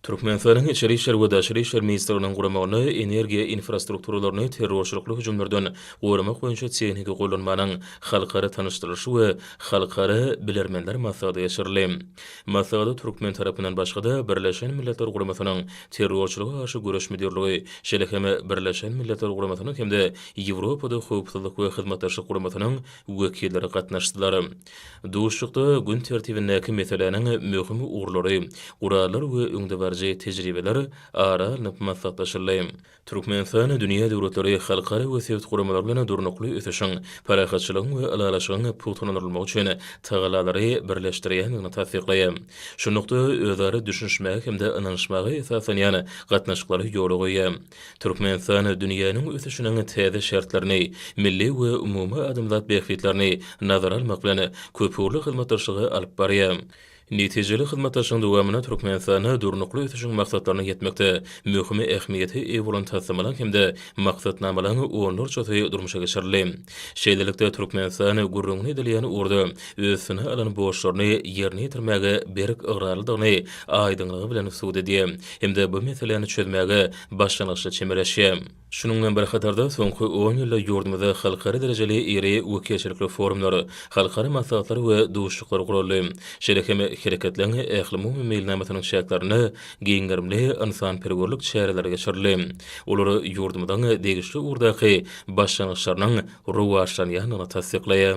Türkmenistanyň Içeri işler we Daşary işler ministrliginiň guramagynda energiýa infrastrukturalaryny terrorçylykly hüjümlerden goramak boýunça tehniki gollanmanyň halkara tanyşdyrylyşy we halkara bilermenler maslahaty geçirildi. Maslahata türkmen tarapyndan başga-da, Birleşen Milletler Guramasynyň Terrorçylyga garşy göreş müdirligi, şeýle hem Birleşen Milletler Guramasynyň hem-de Ýewropada Howpsuzlyk we Hyzmatdaşlyk Guramasynyň wekilleri gatnaşdylar. Duşuşykda gün tertibindäki meseläniň möhüm ugurlary, gurallar we öňdebaryjy tejribeler ara alnyp maslahatlaşyldy. Türkmenistan dünýä döwletleri, halkara we sebit guramalary bilen durnukly ösüşiň, parahatçylygyň we ylalaşygyň pugtalandyrylmagy üçin tagallalary birleşdirýändigini tassyklaýar. Şunlukda, özara düşünişmäge hem-de ynanyşmaga esaslanýan gatnaşyklary ýola goýýar. Türkmenistan dünýäniň ösüşiniň täze şertlerini, milli we umumy adamzat bähbitlerini nazara almak bilen, köpugurly hyzmatdaşlygy alyp barýar. Netijeli hyzmatdaşlygyň dowamynda Türkmenistanda Durnukly ösüşiň maksatlaryna ýetmekde möhüm ähmiýete eýe bolan taslamalaryň hem-de maksatnamalaryň onlarçasy durmuşa geçirildi. Şeýlelikde, Türkmenistan gürrüňini edilýän ugurda üstüne alan borçlaryny ýerine ýetirmäge berk ygrarlydygyny aýdyňlygy bilen subut edýär hem-de bu meseläni çözmäge başlangyçly çemeleşýär. Şunuň bilen bir hatarda, soňky on ýylda ýurdumyzda halkara derejeli iri wekilçilikli forumlar, halkara maslahatlar we duşuşyklar guraldy. Şeýle hem Hereketleriň ählumumy meýilnamasynyň çäklerinde giň gerimli ynsanperwerlik çäreleri geçirildi. Olar ýurdumyzyň degişli ugurdaky başlangyçlarynyň rowaçlanýandygyny tassyklaýar.